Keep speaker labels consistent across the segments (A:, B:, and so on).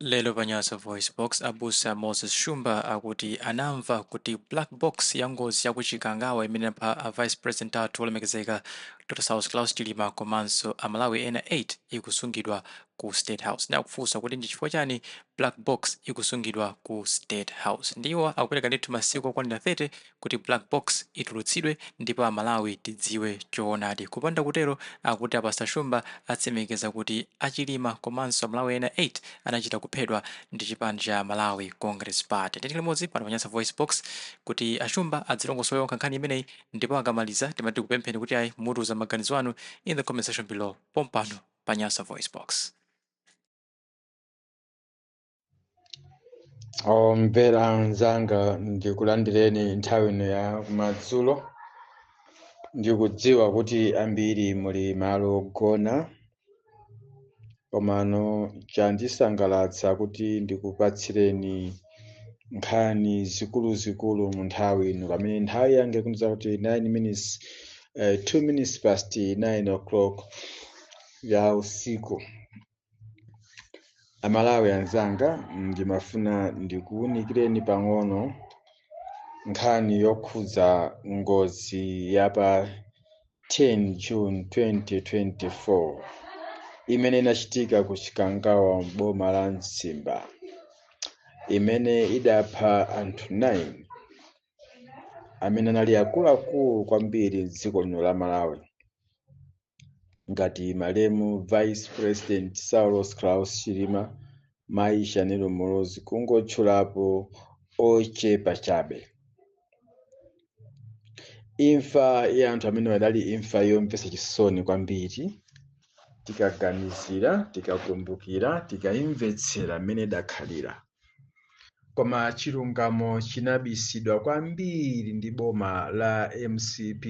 A: Lero pa Nyasa VoiceBox, abusa Moses Shumba akuti anamva kuti black box ya ngozi ya ku Chikangawa imene inapha a Vice President athu olemekezeka Dr. Saulos Klaus Chilima komanso a Malawi ena 8 ikusungidwa ku State House. Ndiye akufunsa kuti ndi chifukwa chani black box ikusungidwa ku State House. Ndiye iwo akupereka ndithu masiku okwanira 30 kuti black box itulutsidwe ndipo a Malawi tidziwe choonadi. Kupanda kutero akuti a Pastor Shumba atsimikiza kuti a Chilima komanso a Malawi ena 8 anachita kuphedwa ndi chipani cha Malawi Congress Party. Tikhale limodzi pano pa Nyasa Voicebox kuti a Shumba adzilongosole okha nkhani imeneyi ndipo akamaliza timati tikupempheni kuti ayi mutiuze maganizo anu in the comment section below pompano pa Nyasa Voicebox.
B: omvera anzanga ndikulandireni nthawi ino ya kumadzulo ndikudziwa kuti ambiri muli malo ogona komano chandisangalatsa kuti ndikupatsireni nkhani zikuluzikulu mu nthawi ino pamene nthawi yanga ikundiuza kuti 9 minutes eh, 2 minutes past 9 o'clock ya usiku amalawi anzanga ndimafuna ndikuwunikireni pang'ono nkhani yokhudza ngozi ya pa 10 june 2024 imene inachitika ku chikangawa m'boma la mzimba imene idapha anthu 9 amene anali akuluakulu kwambiri m'dziko lino la malawi ngati malemu vice president saulos klaus chilima mayi shanil muluzi kungotchulapo ochepa chabe imfa ya anthu amenewa idali imfa yomvetsa chisoni kwambiri tikaganizira tikakumbukira tikayimvetsera mmene idakhalira koma chilungamo chinabisidwa kwambiri ndi boma la mcp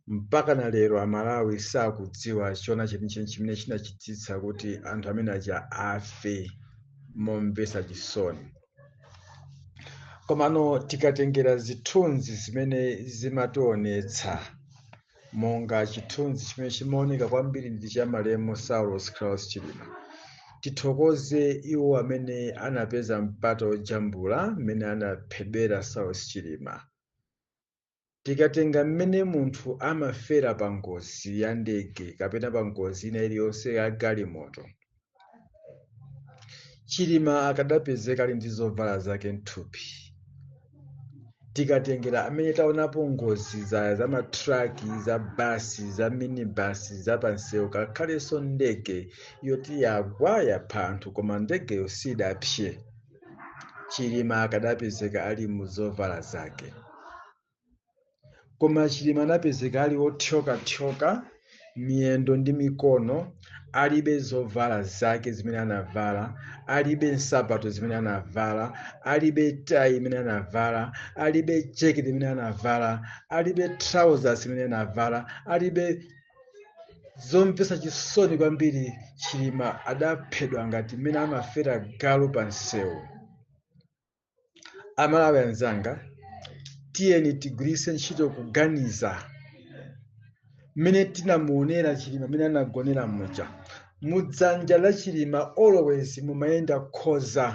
B: mpaka na lero amalawi sakudziwa choona chenicheni chimene chinachititsa kuti anthu amene aja afe momvesa chisoni komano tikatengera zithunzi zimene zimationetsa monga chithunzi chimene chimaoneka kwambiri ndi cha malemu saulos klaus chilima tithokoze iwo amene anapeza mpata wojambula mmene anaphedwera saulos chilima Tikatenga mmene munthu amafera pa ngozi ya ndege kapena pa ngozi ina iliyonse ya galimoto, Chilima akadapezeka ali ndi zovala zake m'thupi. Tikatengera amene taonapo ngozi za za matraki, za basi, za minibasi, za pansewu, ngakhalenso ndege yoti yagwa yapha anthu koma ndegeyo sidapse. chilima akadapezeka ali mu zovala zake koma chilima anapezeka ali wothyokathyoka miyendo ndi mikono alibe zovala zake zimene anavala alibe nsapato zimene anavala alibe tayi imene anavala alibe jeketi imene anavala alibe trousers imene anavala alibe zomvetsa chisoni kwambiri chilima adaphedwa ngati mmene amafera galu pa nsewu amalawi anzanga tiyeni tigwiritse ntchito kuganiza mmene tinamuonera chilima mmene anagonera muja mudzanja la chilima always mumayenda khoza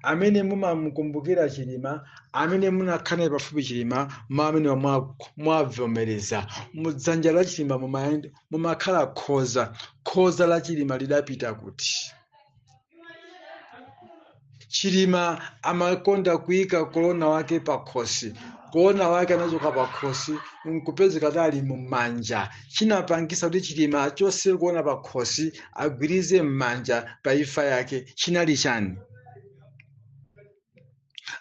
B: amene mumamukumbukira chilima amene munakhala naye pafupi chilima ma amene mwa- mwavomereza mudzanja la chilima mumayend- mumakhala khoza khoza la chilima lidapita kuti chilima amakonda kuyika kolona wake pakhosi kolona wake anachoka pakhosi nkupezeka ali mumanja chinapangisa kuti chilima achose kolona pakhosi agwirize m'manja pa imfa yake chinali chani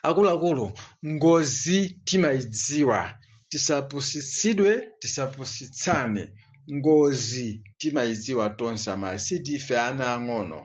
B: akuluakulu ngozi timayidziwa tisapusitsidwe tisapusitsane ngozi timayidziwa tonse amalawi sitife ana ang'ono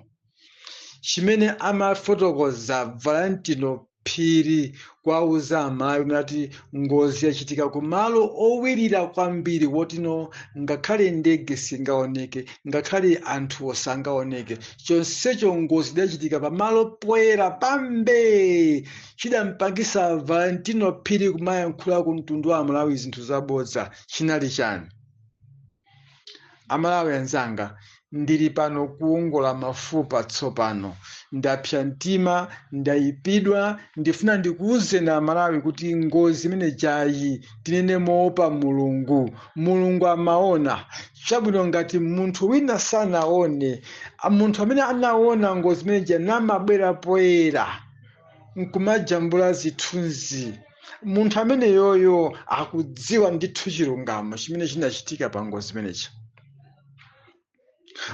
B: chimene amafotokoza valentino phiri kuwauza amalawi nati ngozi yachitika ku malo owirira kwambiri wotino ngakhale ndege singaoneke ngakhale anthuwo sangaoneke chonsecho ngozi idachitika pamalo poyera pambee chidampangisa valentino phiri kumayankhula ku mtundu wa amalawi zinthu zabodza chinali chani Amalawi anzanga, ndili pano kuwongola mafupa tsopano. Ndapsa mtima, ndayipidwa, ndifuna ndikuwuzeni Amalawi kuti ngozi imene ijayi, tinene moopa Mulungu. Mulungu amaona. Chabwino ngati munthu wina sanaone, munthu amene anaona ngozi imene ija namabwera poyera, nkumajambula zithunzi munthu ameneyoyo akudziwa ndithu chilungamo chimene chinachitika pa ngozi imeneyi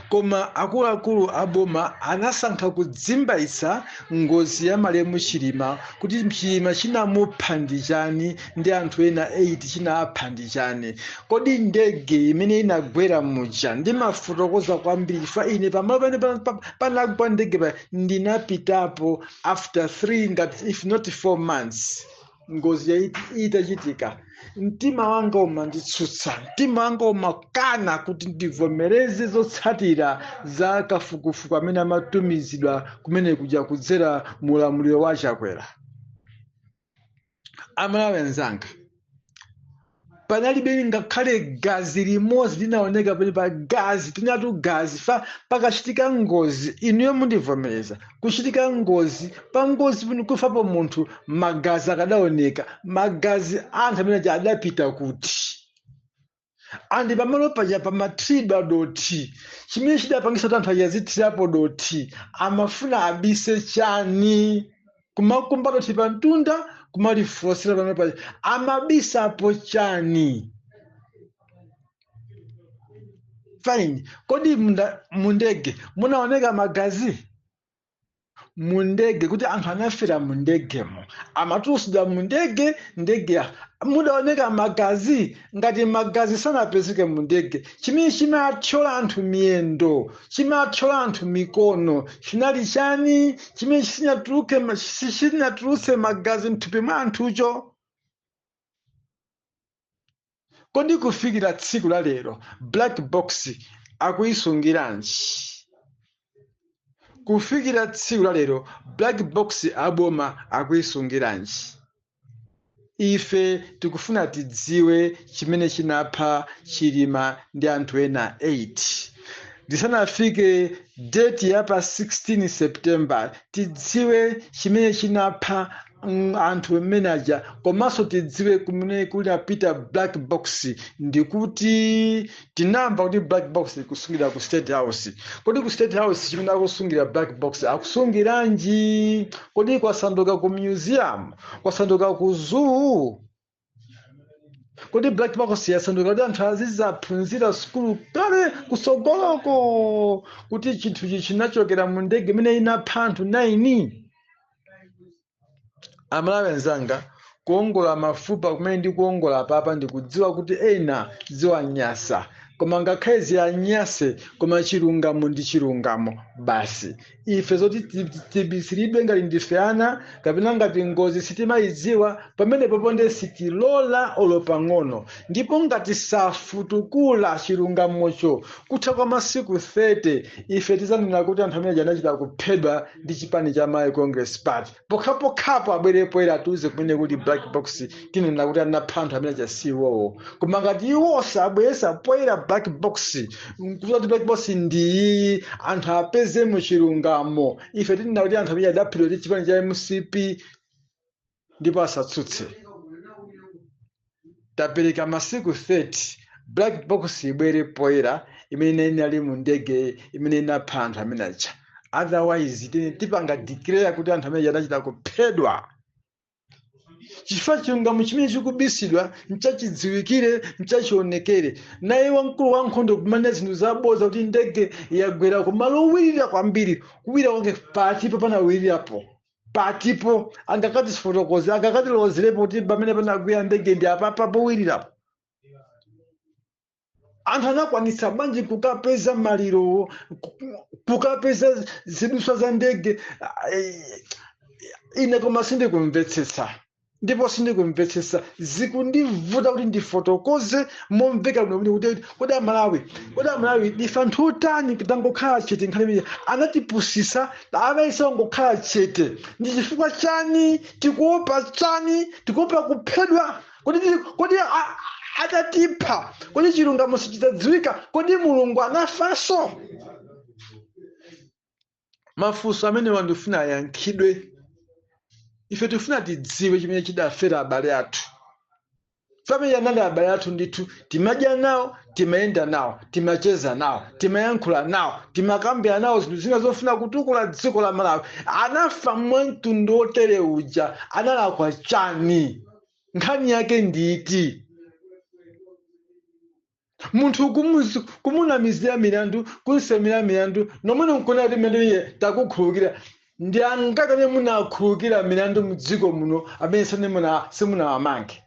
B: koma akuluakulu a boma anasankha kudzimbaitsa ngozi ya malemu chilima kuti chilima chinamupha ndi chani ndi anthu ena 8 chinapha ndi chani kodi ndege imene inagwera muja ndimafotokoza kwambiri chifukwa ine pamalo pamene pa- pa- panagwa ndege pa ndinapitapo after three ngati if not four months ngozi itachitika mtima wanga umanditsutsa mtima wanga umakana kuti ndivomereze zotsatira za kafukufuku amene amatumizidwa kumene kuja kudzera mu ulamuliro wa chakwera amalawi anzanga panalibe ngakhale gazi limodzi linaoneka penepa gazi tinatu gazi fa pakachitika ngozi inuyo mundivomereza kuchitika ngozi pa ngozi pano kufapo munthu magazi akadaoneka magazi anthu amene aja adapita kuti and pamalo paja pamathiridwa dothi chimene chidapangisa kuti anthu aja azithirapo dothi amafuna abise chani kumakumba dothi pa mtunda kumalifotsera pamalo paja amabisapo chani fine kodi mundege munaoneka magazi mundege kuti anthu anafera mundegemo amatulusidwa mundege ndege mudaoneka magazi ngati magazi sanapezeke mundege chimene chimathyola anthu miyendo chimathyola anthu mikono chinali chani chimene chinatulutsa magazi mthupi mwa anthucho kodi kufikira tsiku la lero black box akuyisungiranji kufikira tsiku la lero black box aboma akuyisungiranji ife tikufuna tidziwe chimene chinapha chilima ndi anthu ena 8 ndisanafike date ya pa 16 september tidziwe chimene chinapha mm, anthu amene aja komanso tidziwe kumene kunapita black box ndikuti tinamva kuti black box akusungira ku state house kodi ku state house chimene akusungira black box akusungiranji kodi kwasanduka ku museum kwasanduka ku zoo kodi black box yasanduka kuti anthu azizaphunzira sukulu kale kusogoloko kuti chinthu ichi chinachokera mu ndege imene inapha anthu 9 amalawi anzanga kuongola mafupa kumene ndi kuongola apapa ndikudziwa kuti ena ziwanyasa koma ngakhale ziwanyase koma chilungamo ndi chilungamo basi ife zoti ti- ti- tibisiridwe ngati ndife ana kapena ngati ngozi sitimayidziwa pamene popo nde sitilola olo pang'ono ndipo ngati safutukula chilungamocho kutha kwa masiku 30 ife tizanena kuti anthu amene aja anachita kuphedwa ndi chipani cha malawi congress party pokhapokhapo abwere poyera atiuze kumene kuli black box tinena kuti anapha anthu amene aja si iwowo koma ngati iwo sabweresa poyera black box kuuza kuti black box ndi iyi anthu apeze mu chilungamo ife tinena kuti anthu amene adaphedwa ndi chipani cha mcp ndipo asatsutse tapereka masiku 30 black box ibwere poyera imene inali mu ndege imene inapha anthu amene aja otherwise then tipanga declare kuti anthu amene aja anachita kuphedwa chifukwa chilungamo chimene chikubisidwa nchachidziwikire nchachionekere naye wamkulu wa nkhondo kunena zinthu zaboza kuti ndege yagwera kumalo owirira kwambiri kuwira kwake pati pompa panawirirapo patipo angakatifotokoze angakatilozerepo kuti pamene panagwera ndege ndi apapa powirirapo anthu anakwanitsa bwanji kukapeza malirowo ku- kukapeza ziduswa za ndege Ah, eh, ine koma sindikumvetsetsa ndipo sindikumvetsetsa zikundivuta kuti ndifotokoze momveka bwino bwino kuti kodi amalawi kodi amalawi ndife anthu otani tangokhala chete nkhani imene anatipusisa amayesa tingokhala chete ndi chifukwa chani tikuopa chani tikuopa kuphedwa kodi tili- kodi a- a- atatipha kodi chilungamo sichidzadziwika kodi mulungu anafanso mafunso amenewa ndifuna ayankhidwe ife tifuna tidziwe chimene chidafera abale athu amene anali abale athu ndithu timadya nawo timayenda nawo timacheza nawo timayankhula nawo timakambira nawo zinthu zina zofuna kutukula dziko la malawi anafa mwa mtundu wotere uja analakwa chani nkhani yake ndi iti munthu kumus- kumunamizira milandu kunsemera milandu nomwene nkuona kuti milandu ija takukhulukira ndi angati amene munakhulukira milandu mdziko muno amene sanimuna simunawamange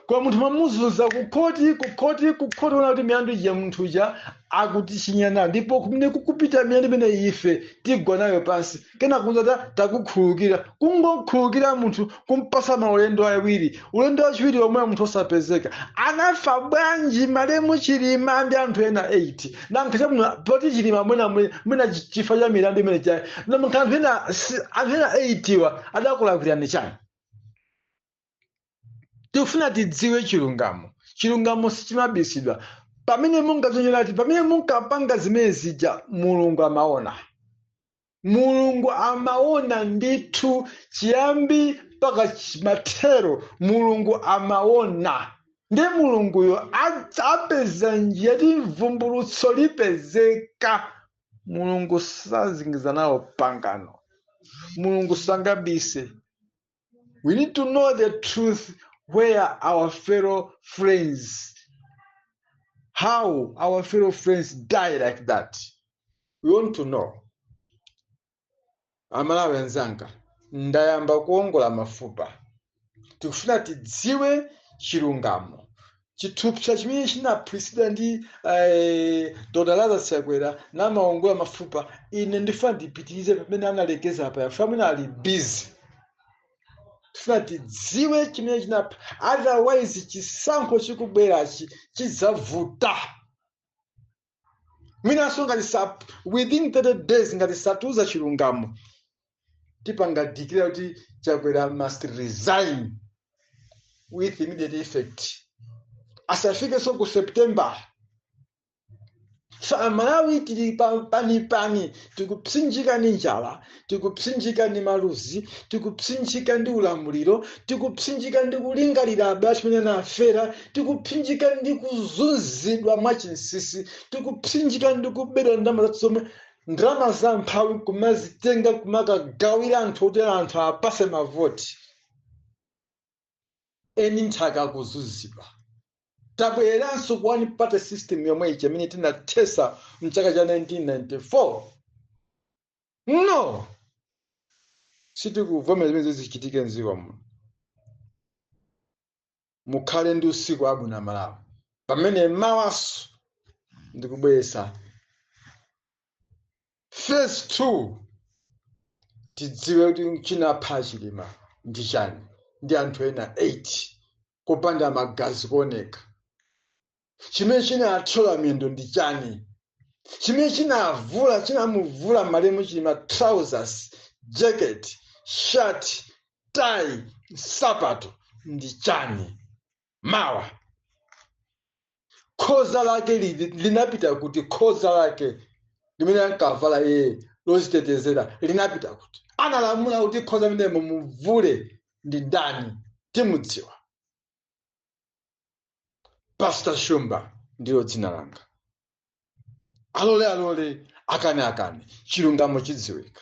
B: koma munthu mwamuzunza kukhoti kukhoti kukhoti mwaona kuti milandu ija munthu uja akutichinya nayo ndipo kumene kukupita milandu imene ife tigwa nayo pansi kenako nzati takukhulukira kungokhulukira munthu kumpasa maulendo awiri ulendo wachiwiri omwe munthu osapezeka anafa bwanji malemu chilima ndi anthu ena 8 nanga chabwino poti chilima mwina mwina chifa cha milandu imene ijayi nanga anthu ena si- anthu ena 8 wa adakulakwirani chani tikufuna tidziwe chilungamo chilungamo sichimabisidwa pamene munkazionera ati pamene munkapanga zimene zija mulungu amaona mulungu amaona ndithu chiyambi mpaka chi- mathero mulungu amaona ndiye mulunguyo adz- apeza njira ti mvumbulutso lipezeka mulungu sazingiza nawo pangano mulungu sangabise We need to know the truth where our fellow friends, how our fellow friends die like that. We want to know. Amalawi anzanga, ndayamba kuongola mafupa. Tikufuna tidziwe chilungamo. chithupsa chimene chinaphulitsidwa ndi eh, dr lazarus chakwera namaongola mafupa ine ndifuna tipitirize pamene analekeza apa yafuta mwina ali bizi tifuna tidziwe chimene chinapha otherwise chisankho chikubwerachi chidzavuta mwinanso ngati sa within 30 days ngati satiuza chilungamo tipanga declare kuti chakwera must resign with immediate effect asafikenso ku september so amalawi tili pa- panipani tikupsinjika ndi njala tikupsinjika ndi maluzi tikupsinjika ndi ulamuliro tikupsinjika ndi kulingalira abale amene anafera tikupsinjika ndi kuzunzidwa mwachinsisi tikupsinjika ndi kubedwa ndalama zathu zomwe ndalama za mphawi kumazitenga kumakagawira anthu kuti anthu apatse mavoti eni nthaka kuzunzidwa tabwereranso ku one party system yomwe ija imene tinathesa mchaka cha 1994 no sitikuvomera zimenezo zichitike mdziko muno mukhale ndi usiku wabwino malawi pamene mawanso ndikubweretsa phase two tidziwe kuti chinapha chilima ndi chani ndi anthu ena 8 kupanda magazi kuoneka chimene chinathyola miyendo ndi chani chimene chinavula chinamuvula malemu chilima trousers jacket shirt tai nsapato ndi chani mawa khoza lake li- linapita kuti khoza lake limene ankavala iye lozitetezera linapita kuti analamula kuti khoza limenelo mumuvule ndi ndani timudziwa pastor shumba ndilo dzina langa alole alole akane akane chilungamo chidziwika